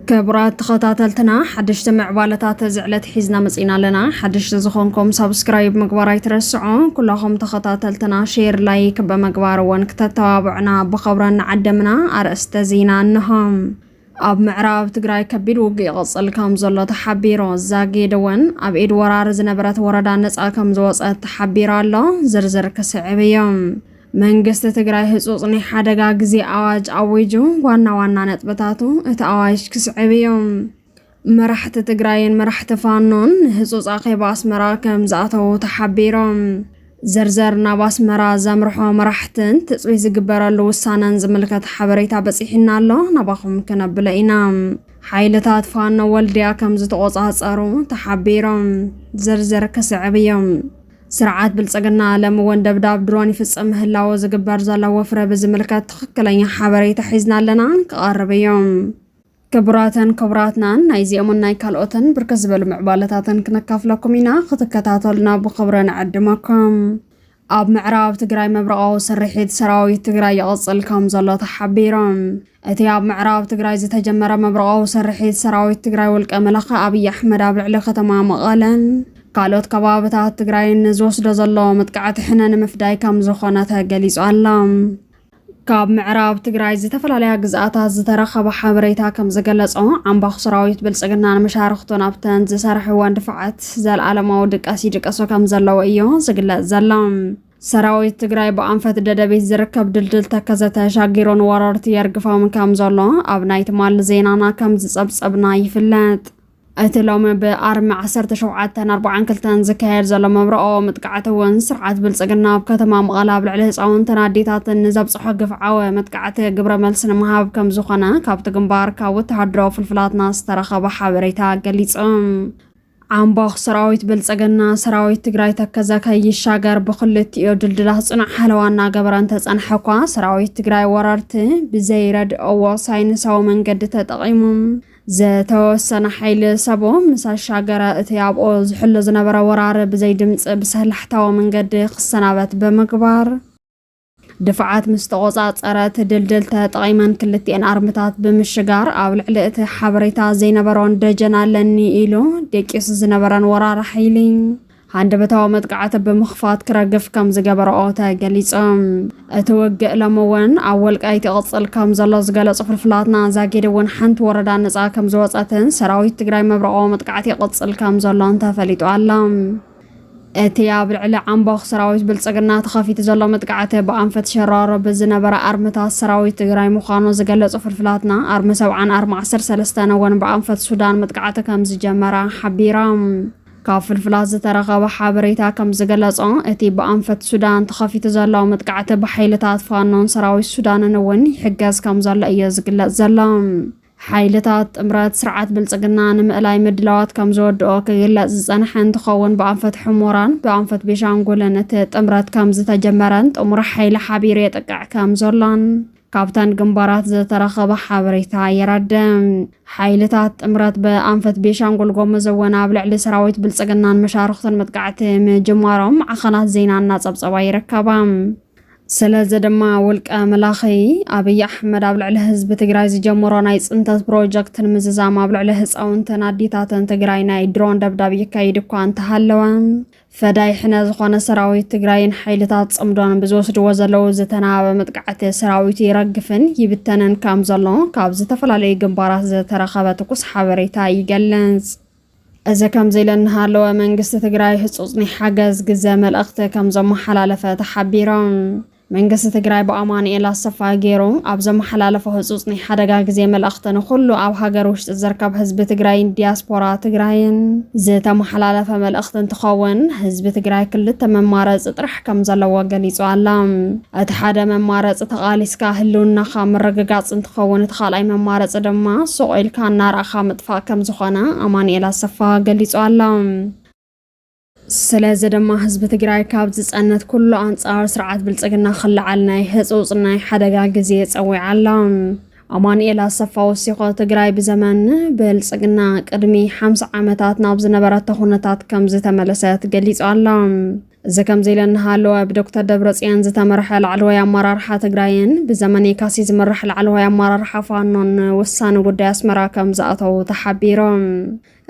ክቡራት ተኸታተልትና ሓደሽቲ ምዕባለታት እዚ ዕለት ሒዝና መፂና ኣለና ሓደሽቲ ዝኾንኩም ሳብስክራይብ ምግባር ኣይትረስዑ ኩላኹም ተኸታተልትና ሼር ላይክ ብምግባር እውን ክተተባብዑና ብኸብራ ንዓደምና ኣርእስተ ዜና እንሆም ኣብ ምዕራብ ትግራይ ከቢድ ውግእ ይቕጽል ከም ዘሎ ተሓቢሩ። ዛጊድ እውን ኣብ ኢድ ወራር ዝነበረት ወረዳ ነጻ ከም ዝወጸት ተሓቢሩ ኣሎ። ዝርዝር ክስዕብ እዩ። መንግስቲ ትግራይ ህጹጽ ናይ ሓደጋ ግዜ ኣዋጅ ኣዊጁ። ዋና ዋና ነጥብታቱ እቲ ኣዋጅ ክስዕብ እዩ። መራሕቲ ትግራይን መራሕቲ ፋኖን ንህፁፅ ኣኼባ ኣስመራ ከም ዝኣተዉ ተሓቢሮም። ዘርዘር ናብ ኣስመራ ዘምርሖ መራሕትን ትፅቢት ዝግበረሉ ውሳነን ዝምልከት ሓበሬታ በፂሑና ኣሎ፣ ናባኹም ክነብሎ ኢና። ሓይልታት ፋኖ ወልድያ ከም ዝተቖፃፀሩ ተሓቢሮም። ዝርዝር ክስዕብ እዩ። ስርዓት ብልፅግና ለም እውን ደብዳብ ድሮን ይፍፅም ምህላዎ ዝግበር ዘሎ ወፍረ ብዝምልከት ትኽክለኛ ሓበሬታ ሒዝና ኣለና ክቐርብ እዩ። ክቡራተን ክቡራትናን ናይዚኦምን ናይ ካልኦትን ብርክት ዝበሉ ምዕባለታትን ክነካፍለኩም ኢና ክትከታተሉና ብክብረ ንዕድመኩም ኣብ ምዕራብ ትግራይ መብረቓዊ ስርሒት ሰራዊት ትግራይ ይቕፅል ከም ዘሎ ተሓቢሮም እቲ ኣብ ምዕራብ ትግራይ ዝተጀመረ መብረቓዊ ስርሒት ሰራዊት ትግራይ ውልቀ መላኸ ኣብዪ ኣሕመድ ኣብ ልዕሊ ከተማ መቐለን ካልኦት ከባብታት ትግራይን ዝወስዶ ዘሎ መጥቃዕቲ ሕነ ንምፍዳይ ከም ዝኾነ ተገሊጹ ኣሎ። ካብ ምዕራብ ትግራይ ዝተፈላለያ ግዝኣታት ዝተረኸበ ሓበሬታ ከም ዝገለጾ ዓምባኹ ሰራዊት ብልጽግናን መሻርኽቱን ኣብተን ዝሰርሕወን ድፋዓት ዘለኣለማዊ ድቀስ ይድቀሱ ከም ዘለዉ እዮ ዝግለጽ ዘሎ። ሰራዊት ትግራይ ብኣንፈት ደደቢት ዝርከብ ድልድል ተከዘ ተሻጊሩ ንወረርቲ የርግፎም ከም ዘሎ ኣብ ናይ ትማሊ ዜናና ከም ዝጸብጸብና ይፍለጥ። እቲ ሎሚ ብኣርሚ ዓሰርተ ሸውዓተን ኣርብዓን ክልተን ዝካየድ ዘሎ መብርኦ መጥቃዕቲ እውን ስርዓት ብልፅግና ኣብ ከተማ መቐለ ኣብ ልዕሊ ህፃውንትን ኣዴታትን ንዘብፅሖ ግፍዓዊ መጥቃዕቲ ግብረ መልሲ ንምሃብ ከም ዝኾነ ካብቲ ግንባር ካብ ወተሃደራዊ ፍልፍላትና ዝተረኸበ ሓበሬታ ገሊፆም። ዓምቦኽ ሰራዊት ብልፅግና ሰራዊት ትግራይ ተከዘ ከይሻገር ብክልቲኦ ድልድላት ፅኑዕ ሓለዋ እናገበረ እንተፀንሐ እኳ ሰራዊት ትግራይ ወረርቲ ብዘይረድኦዎ ሳይንሳዊ መንገዲ ተጠቒሙ ዝተወሰነ ሓይሊ ሰቡ ምስ ኣሻገረ እቲ ኣብኦ ዝሕሉ ዝነበረ ወራር ብዘይ ድምፂ ብሰላሕታዊ መንገዲ ክሰናበት ብምግባር ድፋዓት ምስ ተቖፃፀረ እቲ ድልድል ተጠቒመን ክልቲኤን ኣርምታት ብምሽጋር ኣብ ልዕሊ እቲ ሓበሬታ ዘይነበሮን ደጀን ኣለኒ ኢሉ ደቂሱ ዝነበረን ወራር ሓይሊ ሃንደበታዊ መጥቃዕቲ ብምኽፋት ክረግፍ ከም ዝገበረኦ ተገሊጹ። እቲ ውግእ ሎሚ እውን ኣብ ወልቃይት ይቕጽል ከም ዘሎ ዝገለጹ ፍልፍላትና፣ ዛጊድ እውን ሓንቲ ወረዳ ነጻ ከም ዝወጸትን ሰራዊት ትግራይ መብረቓዊ መጥቃዕቲ ይቕጽል ከም ዘሎን ተፈሊጡ ኣሎ። እቲ ኣብ ልዕሊ ዓምቦኽ ሰራዊት ብልጽግና ተኸፊቱ ዘሎ መጥቃዕቲ ብኣንፈት ሸራሮ ብዝነበረ ኣርምታት ሰራዊት ትግራይ ምዃኑ ዝገለጹ ፍልፍላትና፣ ኣርሚ ሰብዓን ኣርሚ ዓሰርተ ሰለስተን እውን ብኣንፈት ሱዳን መጥቃዕቲ ከም ዝጀመራ ሓቢሮም። ካብ ፍልፍላት ዝተረኸበ ሓበሬታ ከም ዝገለጾ፣ እቲ ብኣንፈት ሱዳን ተኸፊቱ ዘሎ መጥቃዕቲ ብሓይልታት ፋኖን ሰራዊት ሱዳንን እውን ይሕገዝ ከም ዘሎ እዮ ዝግለጽ ዘሎ። ሓይልታት ጥምረት ስርዓት ብልጽግና ንምእላይ ምድላዋት ከም ዝወድኦ ክግለጽ ዝጸንሐ እንትኸውን ብኣንፈት ሕሞራን ብኣንፈት ቤሻንጉልን እቲ ጥምረት ከም ዝተጀመረን ጥሙር ሓይሊ ሓቢሩ የጥቅዕ ከም ዘሎን ካብተን ግንባራት ዝተረኸበ ሓበሬታ የረድእ። ሓይልታት ጥምረት ብኣንፈት ቤንሻንጉል ጎሙዝ እውን ኣብ ልዕሊ ሰራዊት ብልፅግናን መሻርኽቱን መጥቃዕቲ ምጅማሮም ዓኸናት ዜና እናፀብፀባ ይርከባ። ስለዚ ድማ ውልቀ መላኺ ኣብይ ኣሕመድ ኣብ ልዕሊ ህዝቢ ትግራይ ዝጀመሮ ናይ ፅንተት ፕሮጀክት ንምዝዛም ኣብ ልዕሊ ህፃውንትን ኣዴታትን ትግራይ ናይ ድሮን ደብዳብ ይካይድ እኳ እንተሃለወ ፈዳይ ሕነ ዝኾነ ሰራዊት ትግራይን ሓይልታት ጽምዶን ብዝወስድዎ ዘለዉ ዝተናበበ መጥቃዕቲ ሰራዊቱ ይረግፍን ይብተንን ከም ዘሎ ካብ ዝተፈላለዩ ግንባራት ዝተረኸበ ትኩስ ሓበሬታ ይገልጽ። እዚ ከምዚ ኢለ እናሃለወ መንግስቲ ትግራይ ህጹጽ ናይ ሓገዝ ግዘ መልእኽቲ ከም ዘመሓላለፈ ተሓቢሮም። መንግስቲ ትግራይ ብኣማኑኤል ኣሰፋ ገይሩ ኣብ ዘመሓላለፎ ህፁፅ ናይ ሓደጋ ግዜ መልእኽቲ ንኹሉ ኣብ ሃገር ውሽጢ ዝርከብ ህዝቢ ትግራይን ዲያስፖራ ትግራይን ዝተመሓላለፈ መልእኽቲ እንትኸውን ህዝቢ ትግራይ ክልተ መማረፂ ጥራሕ ከም ዘለዎ ገሊፁ ኣሎ። እቲ ሓደ መማረፂ ተቓሊስካ ህልውናኻ ምርግጋፅ እንትኸውን እቲ ካልኣይ መማረፂ ድማ ሱቕ ኢልካ እናረኣኻ ምጥፋእ ከም ዝኾነ ኣማኑኤል ኣሰፋ ገሊፁ ኣሎ። ስለዚ ድማ ህዝቢ ትግራይ ካብ ዝፀነት ኩሉ ኣንፃር ስርዓት ብልፅግና ክለዓል ናይ ህፁፅ ናይ ሓደጋ ግዜ ፀዊዓ ኣላ። ኣማኑኤል ኣሰፋ ወሲኾ ትግራይ ብዘመን ብልፅግና ቅድሚ ሓምሳ ዓመታት ናብ ዝነበረቶ ኩነታት ከም ዝተመለሰት ገሊጹ ኣሎ። እዚ ከምዚ ኢለ እናሃለወ ብዶክተር ደብረፅዮን ዝተመርሐ ላዕለዋይ ኣመራርሓ ትግራይን ብዘመን የካሲ ዝምራሕ ላዕለዋይ ኣመራርሓ ፋኖን ውሳነ ጉዳይ ኣስመራ ከም ዝኣተው ተሓቢሮም።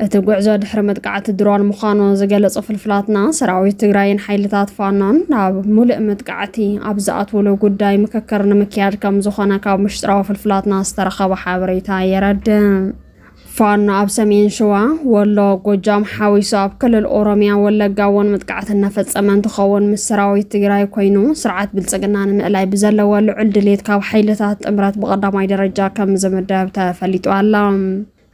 እቲ ጉዕዞ ድሕሪ መጥቃዕቲ ድሮን ምዃኑ ዝገለጹ ፍልፍላትና፣ ሰራዊት ትግራይን ሓይልታት ፋኖን ናብ ሙሉእ መጥቃዕቲ ኣብ ዝኣትውሉ ጉዳይ ምክክር ንምክያድ ከም ዝኾነ ካብ ምሽጥራዊ ፍልፍላትና ዝተረኸበ ሓበሬታ የረድእ። ፋኖ ኣብ ሰሜን ሸዋ፣ ወሎ፣ ጎጃም ሓዊሱ ኣብ ክልል ኦሮሚያ ወለጋ እውን መጥቃዕቲ እናፈጸመ እንትኸውን ምስ ሰራዊት ትግራይ ኮይኑ ስርዓት ብልጽግና ንምእላይ ብዘለዎ ልዑል ድሌት ካብ ሓይልታት ጥምረት ብቐዳማይ ደረጃ ከም ዝምደብ ተፈሊጡ ኣሎ።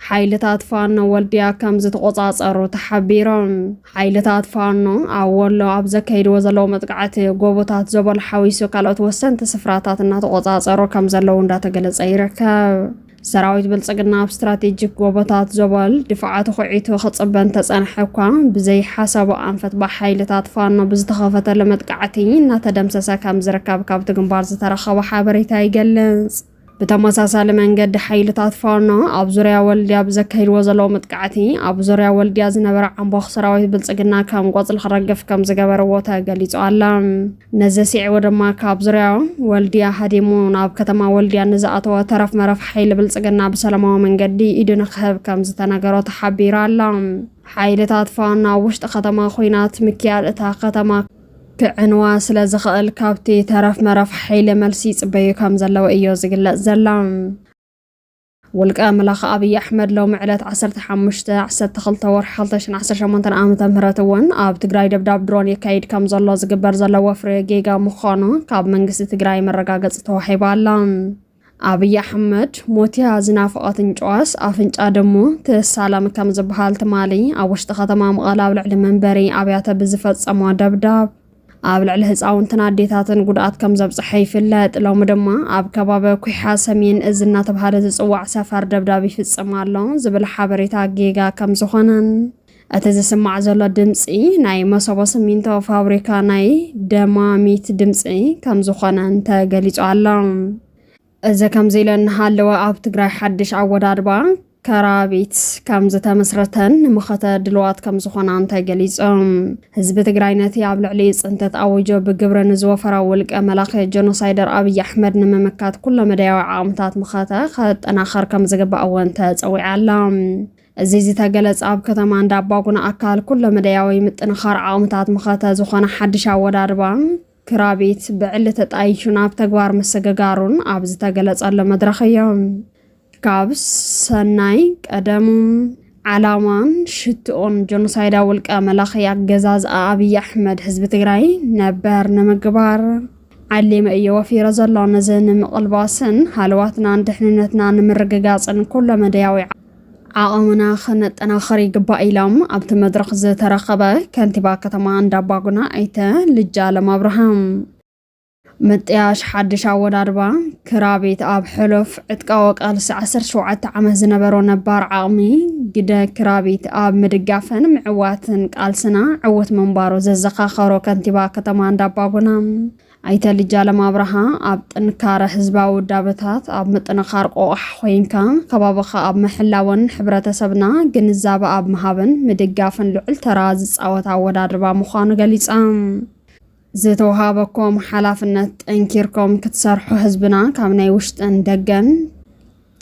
ሓይልታት ፋኖ ወልድያ ከም ዝተቖጻጸሩ ተሓቢሮም። ሓይልታት ፋኖ ኣብ ወሎ ኣብ ዘካይድዎ ዘለዉ መጥቃዕቲ ጎቦታት ዘበሉ ሓዊሱ ካልኦት ወሰንቲ ስፍራታት እናተቖጻጸሩ ከም ዘለዉ እንዳተገለጸ ይርከብ። ሰራዊት ብልጽግና ኣብ ስትራቴጂክ ጎቦታት ዞበል ድፋዓቱ ኩዒቱ ክጽበ እንተጸንሐ እኳ ብዘይሓሰቦ ኣንፈት ብሓይልታት ፋኖ ብዝተኸፈተሉ መጥቃዕቲ እናተደምሰሰ ከም ዝርከብ ካብቲ ግንባር ዝተረኸበ ሓበሬታ ይገልጽ። ብተመሳሳሊ መንገዲ ሓይልታት ፋኖ ኣብ ዙርያ ወልድያ ብዘካሂድዎ ዘለዉ መጥቃዕቲ ኣብ ዙርያ ወልድያ ዝነበረ ዓምቦኽ ሰራዊት ብልፅግና ከም ቆፅሊ ክረግፍ ከም ዝገበርዎ ተገሊፁ ኣለ። ነዚ ስዒቡ ድማ ካብ ዙርያ ወልድያ ሃዲሙ ናብ ከተማ ወልድያ ንዝኣተወ ተረፍ መረፍ ሓይሊ ብልፅግና ብሰላማዊ መንገዲ ኢዱ ንክህብ ከም ዝተነገሮ ተሓቢሩ ኣለ። ሓይልታት ፋኖ ኣብ ውሽጢ ከተማ ኩናት ምክያድ እታ ከተማ ክዕንዋ ስለ ዝኽእል ካብቲ ተረፍ መረፍ ሓይሊ መልሲ ይጽበዩ ከም ዘለዉ እዮ ዝግለጽ ዘላ። ውልቀ መላኺ ኣብይ ኣሕመድ ሎሚ ዕለት 15 12 ወርሒ 2018 ዓ.ም እውን ኣብ ትግራይ ደብዳብ ድሮን የካይድ ከም ዘሎ ዝግበር ዘሎ ወፍሪ ጌጋ ምዃኑ ካብ መንግስቲ ትግራይ መረጋገፂ ተዋሂባ ኣላ። ኣብይ ኣሕመድ ሞትያ ዝናፈቐት እንጭዋስ ኣፍንጫ ደሞ ትሳለም ከም ዝበሃል ትማሊ ኣብ ውሽጢ ከተማ መቐለ ኣብ ልዕሊ መንበሪ ኣብያተ ብዝፈጸሞ ደብዳብ ኣብ ልዕሊ ህፃውንትን ኣዴታትን ጉድኣት ከም ዘብፅሐ ይፍለጥ። ሎሚ ድማ ኣብ ከባቢ ኩሓ ሰሜን እዚ እናተባሃለ ዝፅዋዕ ሰፈር ደብዳብ ይፍፅም ኣሎ ዝብል ሓበሬታ ጌጋ ከም ዝኾነን እቲ ዝስማዕ ዘሎ ድምፂ ናይ መሰቦ ስሚንቶ ፋብሪካ ናይ ደማሚት ድምፂ ከም ዝኾነ ተገሊፁ ኣሎ። እዚ ከምዚ ኢለ እናሃለወ ኣብ ትግራይ ሓድሽ ኣወዳድባ ከራቢት ከም ዝተመስረተን ንመኸተ ድልዋት ከም ዝኾና እንተገሊጾም ህዝቢ ትግራይ ነቲ ኣብ ልዕሊ ፅንተት ኣውጆ ብግብሪ ንዝወፈራ ውልቀ መላኺ ጀኖሳይደር ኣብይ ኣሕመድ ንምምካት ኩሎ መዳያዊ ዓቕምታት መኸተ ከጠናኸር ከም ዝግባእ እውን ተፀዊዓ ኣላ እዚ ዝተገለጸ ኣብ ከተማ እንዳባጉና ኣካል ኩለመደያዊ ምጥንኻር ዓቕምታት መኸተ ዝኾነ ሓድሽ ኣወዳድባ ክራቢት ብዕሊ ተጣይሹ ናብ ተግባር ምስግጋሩን ኣብ ዝተገለጸሉ መድረኽ እዮም። ካብ ሰናይ ቀደሙ ዓላማን ሽትኦን ጆኖሳይዳ ውልቀ መላኺ ኣገዛዝኣ ኣብዪ ኣሕመድ ህዝቢ ትግራይ ነበር ንምግባር ዓሊመ እየ ወፊረ ዘሎ ነዚ ንምቕልባስን ሃለዋትናን ድሕንነትና ንምርግጋፅን ኩለመደያዊ ዓቐምና ከነጠናኸር ይግባእ ኢሎም ኣብቲ መድረኽ ዝተረኸበ ከንቲባ ከተማ እንዳባጉና ኣይተ ልጅ ኣለም ኣብርሃም ምጥያሽ ሓድሽ ኣወዳድባ ክራቤት ኣብ ሕሉፍ ዕጥቃዊ ቃልሲ 17 ዓመት ዝነበሮ ነባር ዓቕሚ ግደ ክራቤት ኣብ ምድጋፍን ምዕዋትን ቃልስና ዕውት ምንባሩ ዘዘኻኸሮ ከንቲባ ከተማ እንዳባጉና ኣይተ ልጃለም ኣብርሃ፣ ኣብ ጥንካረ ህዝባዊ ውዳበታት፣ ኣብ ምጥንኻር ቆቛሕ ኮይንካ ከባብኻ ኣብ ምሕላውን ሕብረተሰብና ግንዛበ ኣብ ምሃብን ምድጋፍን ልዑል ተራ ዝፃወት ኣወዳድባ ምዃኑ ገሊፆም። ዝተውሃበኩም ሓላፍነት ጠንኪርኩም ክትሰርሑ ህዝብና ካብ ናይ ውሽጥን ደገን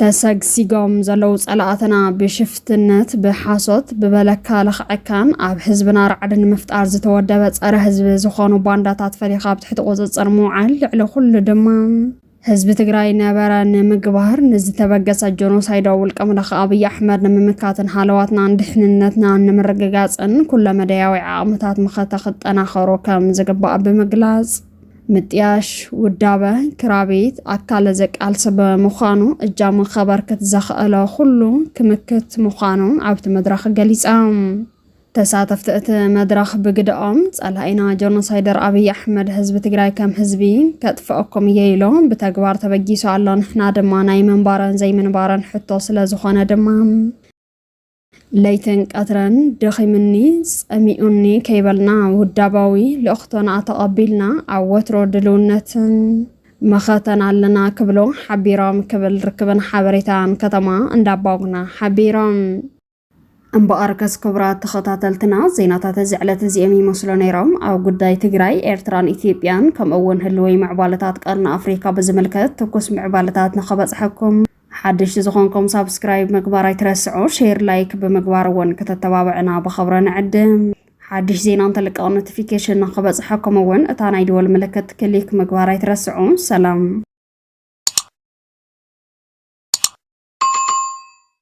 ተሰግሲጎም ዘለዉ ጸላእትና ብሽፍትነት ብሓሶት ብበለካ ለኽዐካን ኣብ ህዝብና ራዕዲ ንምፍጣር ዝተወደበ ጸረ ህዝቢ ዝኾኑ ባንዳታት ፈሊኻ ኣብ ትሕቲ ቁጽጽር ምውዓል ልዕሊ ኩሉ ድማ ህዝቢ ትግራይ ነበረ ንምግባር ንዝተበገሰ ጆኖሳይዳዊ ውልቀ መላኺ ኣብይ ኣሕመድ ንምምካትን ሃለዋትናን ድሕንነትናን ንምርግጋፅን ኩለመዳያዊ ዓቕምታት መኸተ ክጠናኸሩ ከም ዝግባእ ብምግላፅ ምጥያሽ ውዳበ ክራቤት ኣካለ ዘቃልሰ ብምዃኑ እጃሙ ከበርክት ዘኽእሎ ኩሉ ክምክት ምዃኑ ኣብቲ መድረኽ ገሊፆም። ተሳተፍቲ እቲ መድረኽ ብግደኦም ፀላኢና ጆኖሳይደር ኣብይ ኣሕመድ ህዝቢ ትግራይ ከም ህዝቢ ከጥፍኣኩም እየ ኢሎ ብተግባር ተበጊሱ ኣሎ ንሕና ድማ ናይ ምንባረን ዘይምንባረን ሕቶ ስለዝኾነ ድማ ለይትን ቀትረን ደኺሙኒ ጸሚኡኒ ከይበልና ውዳባዊ ልእኽቶና ተቐቢልና ኣብ ወትሮ ድልውነትን መኸተን ኣለና ክብሉ ሓቢሮም ክብል ርክብን ሓበሬታን ከተማ እንዳባጉና ሓቢሮም። እምበኣርከስ ክቡራት ተኸታተልትና ዜናታት እዚ ዕለት እዚኦም ይመስሉ ነይሮም። ኣብ ጉዳይ ትግራይ፣ ኤርትራን ኢትዮጵያን ከምኡ እውን ህልወይ ምዕባለታት ቀርኒ ኣፍሪካ ብዝምልከት ትኩስ ምዕባለታት ንኸበፅሐኩም ሓደሽቲ ዝኾንኩም ሳብስክራይብ ምግባር ኣይትረስዑ፣ ሼር ላይክ ብምግባር እውን ክተተባብዕና ብኸብረ ንዕድም። ሓድሽ ዜና እንተልቀቕ ኖቲፊኬሽን ንክበፅሐኩም እውን እታ ናይ ደወል ምልክት ክሊክ ምግባር ኣይትረስዑ። ሰላም